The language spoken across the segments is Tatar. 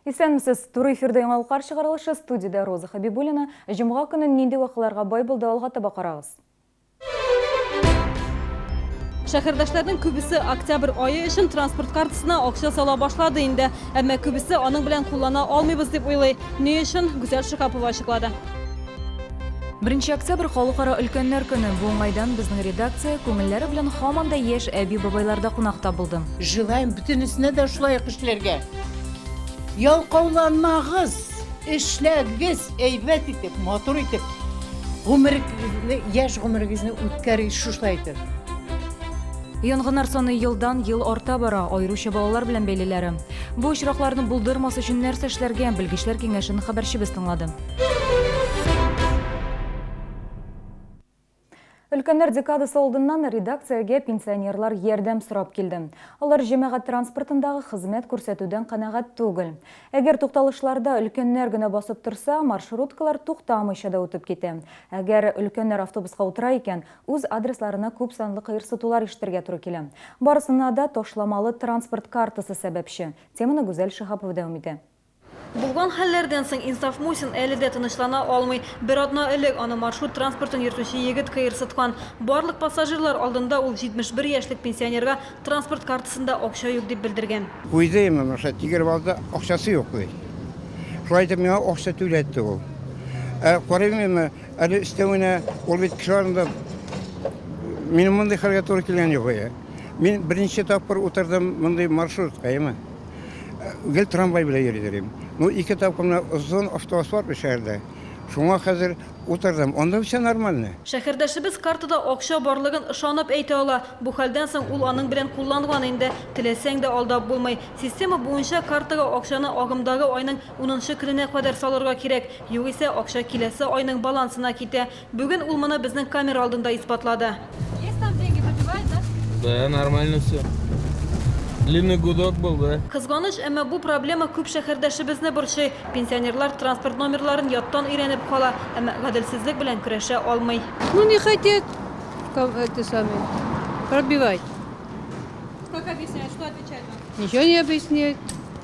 Исәнмесез, туры эфирдә яңалыклар чыгарылышы студиядә Роза Хабибуллина. Җомга көнен нинди вакыйларга бай булды алга таба карагыз. Шәһәрдәшләрнең күбесе октябрь айы өчен транспорт картасына акча сала башлады инде. Әмма күбесе аның белән куллана алмыйбыз дип уйлый. Ни өчен? Гүзәл Шикапова ачыклады. Беренче октябрь халыкара өлкәннәр көне. Бу уңайдан безнең редакция күңелләре белән һаман да яшь әби-бабайларда кунакта булды. Желаем бөтенесенә дә шулай ук эшләргә. Ялкауланмагыз! Эшләгез әйбәт итеп, матур итеп. Гомерегезне, яшь гомерегезне үткәрегез шушылай итеп. Янгыннар саны елдан ел арта бара, аеруча балалар белән бәйлеләре. Бу очракларны булдырмас өчен нәрсә эшләргә? Белгечләр киңәшен хәбәрчебез тыңлады. Өлкәннәр декадасы алдыннан редакциягә пенсионерлар ярдәм сорап килде. Алар җәмәгать транспортындагы хезмәт күрсәтүдән канәгать түгел. Әгәр тукталышларда өлкәннәр генә басып торса, маршруткалар туктамыйча да үтеп китә. Әгәр өлкәннәр автобуска утыра икән, үз адресларына күп санлы кыерсытулар ишетергә туры килә. Барысына да ташламалы транспорт картасы сәбәпче. Теманы Гүзәл Шиһапова дәвам итә. Булган хәлләрдән соң Инсаф Мусин әле дә тынычлана алмый. Бер атна элек аны маршрут транспортын йөртүче егет кыерсыткан. Барлык пассажирлар алдында ул 71 яшьлек пенсионерга транспорт картасында акча юк дип белдергән. Куйды имин, рөхсәт тигереп алды, акчасы юк ди. Шулай итеп миңа акча түләтте ул. Ә карыйм имин, әле өстәвенә ул бит кеше арында Минем мондый хәлгә туры килгән юк. Мин беренче тапкыр утырдым мондый маршрутка имин. гел трамвай белән йөридер идем. Ну, ике тапкырына озын автоасфальт шәһәрдә. Шуңа хәзер утырдым. Анда все нормально. Шәһәрдәшебез картада акча барлыгын ышанып әйтә ала. Бу хәлдән соң ул аның белән кулланган инде. Теләсәң дә алдап булмый. Система буенча картага акчаны агымдагы айның унынчы көненә кадәр салырга кирәк. Югыйсә акча киләсе айның балансына китә. Бүген ул моны безнең камера алдында исбатлады. Есть там деньги, пробивает, да? Да, нормально все. Длинный гудок был, да? Кызганыч, әмма бу проблема күп шәһәрдәшебезне борчый. Пенсионерлар транспорт номерларын яттан өйрәнеп кала, әмма гаделсезлек белән көрәшә алмый. Ну не хотят, ком- это самое, пробивать. Как объясняют, что отвечают вам? Ничего не объясняют.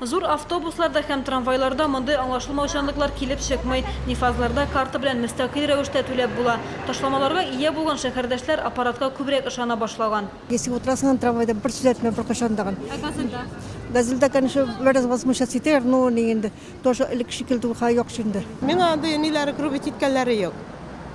Зур автобусларда һәм трамвайларда мондый аңлашылмаучанлыклар килеп чыкмый. Нифазларда карта белән мөстәкыйль рәвештә түләп була. Ташламаларга ия булган шәһәрдәшләр аппаратка күбрәк ышана башлаган. Если утырасың аны трамвайда, бер сүз әйтмә беркайчан да. Ә Газельда? Газельда, конечно, бераз возмущаться итәләр, но ни инде, тоже элекке шикелле түгел, хәзер яхшы инде. Миңа андый ниләр грубить иткәннәре юк.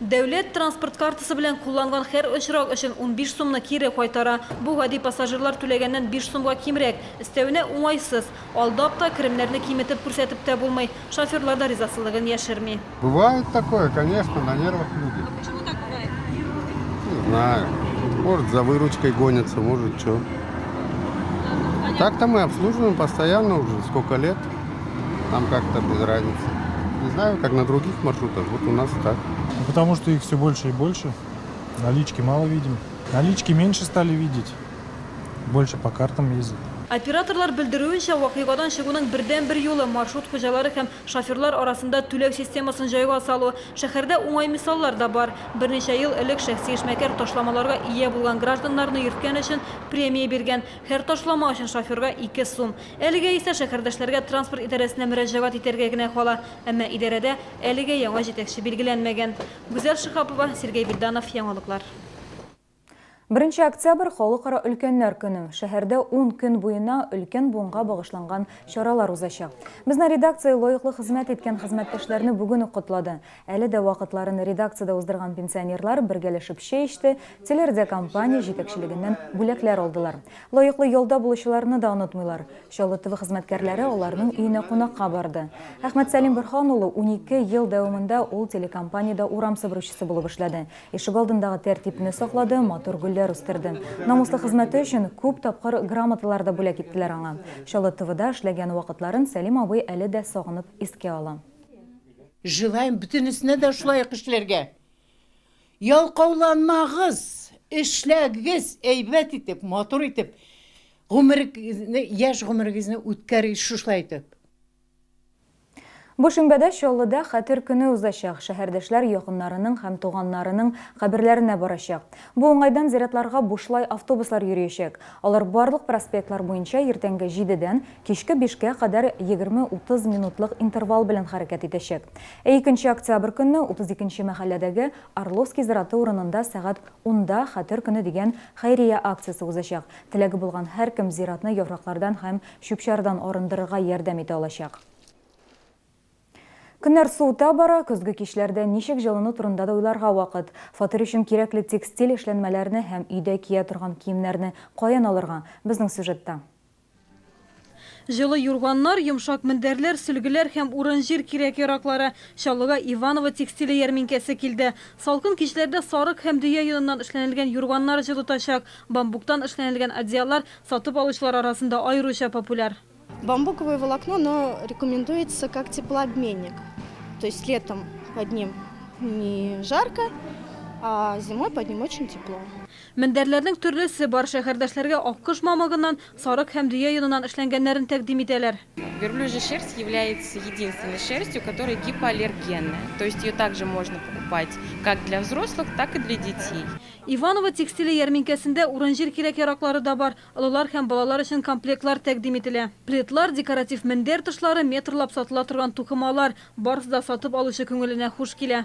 Дәүләт транспорт картасы белән кулланган хәр очрак өчен унбиш сумны кире кайтара. Бу гади пассажирлар түләгәннән биш сумга кимрәк. Өстәвенә, уңайсыз. Алдап та, керемнәрне киметеп күрсәтеп тә булмый. Шоферлар да ризасызлыгын яшерми. Бывает такое, конечно, на нервах люди. А почему так бывает? Не знаю. Может, за выручкой гонятся, может, чё. Так-то мы обслуживаем постоянно уже сколько лет. Нам как-то без разницы. Не знаю, как на других маршрутах, вот у нас так. Ну, потому что их все больше и больше. Налички мало видим. Налички меньше стали видеть. Больше по картам ездят. Операторлар белдерүенчә, вакыйгадан чыгуның бердәнбер юлы маршрут хуҗалары һәм шоферлар арасында түләү системасын җайга салу. Шәһәрдә уңай мисаллар да бар. Берничә ел элек шәхси эшмәкәр ташламаларга ия булган гражданнарны йөрткән өчен премия биргән. Һәр ташлама өчен шоферга ике сум. Әлегә исә шәһәрдәшләргә транспорт идарәсенә мөрәҗәгать итәргә генә кала. Әмма идарәдә әлегә яңа җитәкче билгеләнмәгән. Гүзәл Шиһапова, Сергей Бильданов, Яңалыклар. Беренче октябрь, Халыкара өлкәннәр көне. Шәһәрдә ун көн буена өлкән буынга багышланган чаралар узачак. Безнең редакция лаеклы хезмәт иткән хезмәттәшләрне бүген үк котлады. Әле дә вакытларын редакциядә уздырган пенсионерлар бергәләшеп чәй эчте, телерадиокомпания җитәкчелегеннән бүләкләр алдылар. Лаеклы ялда булучыларны да онытмыйлар. Чаллы ТВ хезмәткәрләре аларның өенә кунакка барды. Әхмәтсәлим Борһан улы унике ел дәвамында ул телекомпаниядә урам себерүчесе булып эшләде. Ишегалдындагы тәртипне саклады, матур гөлләр үстерде. Намуслы хезмәте өчен күп тапкыр грамоталар да бүләк иттеләр аңа. Чаллы ТВда эшләгән вакытларын Сәлим абый әле дә сагынып искә ала. Желаем бөтенесенә дә шулай ук эшләргә! Ялкауланмагыз! Эшләгез әйбәт итеп, матур итеп! Гомерегезне, яшь гомерегезне үткәрегез шушылай итеп! Бу шимбәдә Чаллыда Хәтер көне узачак. Шәһәрдәшләр якыннарының һәм туганнарының каберләренә барачак. Бу уңайдан зиратларга бушлай автобуслар йөриячәк. Алар барлык проспектлар буенча иртәнге җидедән Кичке бишкә кадәр егерме-утыз минутлык интервал белән хәрәкәт итәчәк. Ә икенче октябрь көнне утыз икенче мәхәлләдәге Орловский зираты урынында сәгать унда Хәтер көне дигән хәйрия акциясе узачак. Теләге булган һәркем зиратны яфраклардан һәм чүп-чардан арындырырга ярдәм итә алачак. Көннәр суыта бара, көзге кичләрдә ничек җылыну турында да уйларга вакыт. Фатир өчен кирәкле текстиль эшләнмәләрне һәм өйдә кия торган киемнәрне каян алырга? Безнең сюжетта. Җылы юрганнар, йомшак мендәрләр, сөлгеләр һәм урын-җир кирәк-яраклары. Чаллыга Иваново текстиле ярминкәсе килде. Салкын кичләрдә сарык һәм дөя йоныннан эшләнелгән юрганнар җылытачак. Бамбуктан эшләнелгән одеяллар сатып алучылар арасында аеруча популяр. Бамбуковое волокно, оно рекомендуется как теплообменник. То есть летом под ним не жарко, а зимой под ним очень тепло. Мендәрләрнең төрлесе бар. Шәһәрдәшләргә аккош мамыгыннан, сарык һәм дөя йоныннан эшләнгәннәрен тәкъдим итәләр. Верблюжья шерсть является единственной шерстью, которая гипоаллергенная, то есть ее также можно покупать как для взрослых, так и для детей. Иваново текстиле ярминкәсендә урын-җир кирәк-яраклары да бар. Олылар һәм балалар өчен комплектлар тәкъдим ителә. Пледлар, декоратив мендәр тышлары, метрлап сатыла торган тукымалар, барысы да сатып алучы күңеленә хуш килә.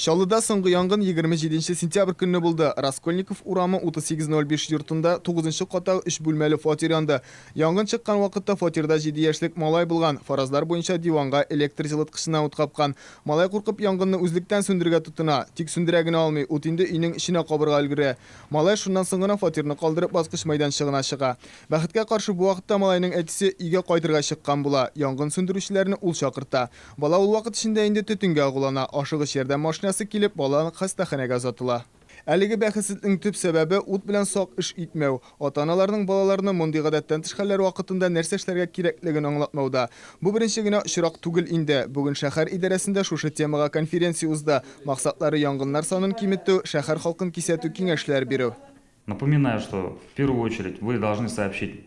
Чаллыда соңгы янгын егерме җиденче сентябрь көнне булды. Раскольников урамы 3805 йортында тугызынчы каттагы өч бүлмәле фатир янды. Янгын чыккан вакытта фатирда җиде яшьлек малай булган. Фаразлар буенча, диванга электр җылыткычына ут капкан. Малай куркып янгынны үзлектән сүндерергә тотына. Тик сүндерә генә алмый, ут инде өйнең эченә кабырга өлгерә. Малай шуннан соң гына фатирны калдырып баскыч майданчыгына чыга. Бәхеткә каршы, бу вакытта малайның әтисе өйгә кайтырга чыккан була. Янгын сүндерүчеләрне ул чакырта. Бала ул вакыт эчендә инде төтенгә агулана, ашыгыч ярдәм машинасы килеп, бала нык хастаханәгә озатыла. Әлеге бәхетсезлекнең төп сәбәбе, ут белән сак эш итмәү. Ата-аналарның балаларны мондый гадәттән тыш хәлләр вакытында нәрсә эшләргә кирәклеген аңлатмауда. Бу беренче генә очрак түгел инде. Бүген шәһәр идарәсендә шушы темага конференция узды, максатлары янгыннар санын киметү, шәһәр халкын кисәтү, киңәшләр бирү. Напоминаю, что в первую очередь вы должны сообщить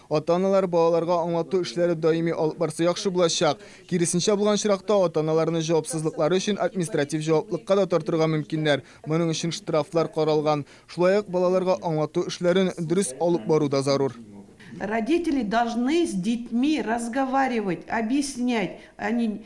Ата-аналар балаларга аңлату эшләре даими алып барса яхшы булачак. Киресенчә булган очракта, ата-аналарны җавапсызлыклары өчен административ җаваплыкка да тартырга мөмкиннәр. Моның өчен штрафлар каралган. Шулай ук балаларга аңлату эшләрен дөрес алып бару да зарур. Родители должны с детьми разговаривать, объяснять, они.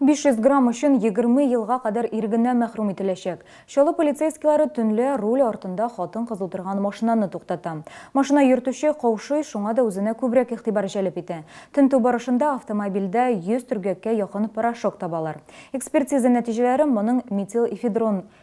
500 грамм өчен 20 елга кадәр ирегеннән мәхрүм ителәчәк. Чаллы полицейскийлары төнлә руль артында хатын-кыз утырган машинаны туктата. Машина йөртүче каушый, шуңа да үзенә күбрәк игътибар җәлеп итә. Тентү барышында автомобильдә 100 төргәккә якын порошок табалар. Экспертиза нәтиҗәләре моның метилэфедрон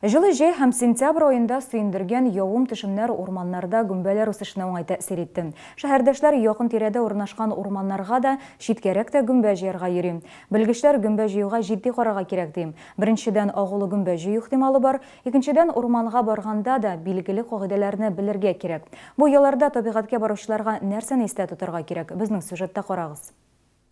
Җылы җәй һәм сентябрь аенда сөендергән явым-төшемнәр урманнарда гөмбәләр үсешенә уңай тәэсир итте. Шәһәрдәшләр якын тирәдә урнашкан урманнарга да, читкәрәк тә гөмбә җыярга йөри. Белгечләр гөмбә җыюга җитди карарга кирәк, ди. Беренчедән, агулы гөмбә җыю ихтималы бар. Икенчедән, урманга барганда да билгеле кагыйдәләрне белергә кирәк. Бу ялларда табигатькә баручыларга нәрсәне истә тотарга кирәк? Безнең сюжетта карагыз.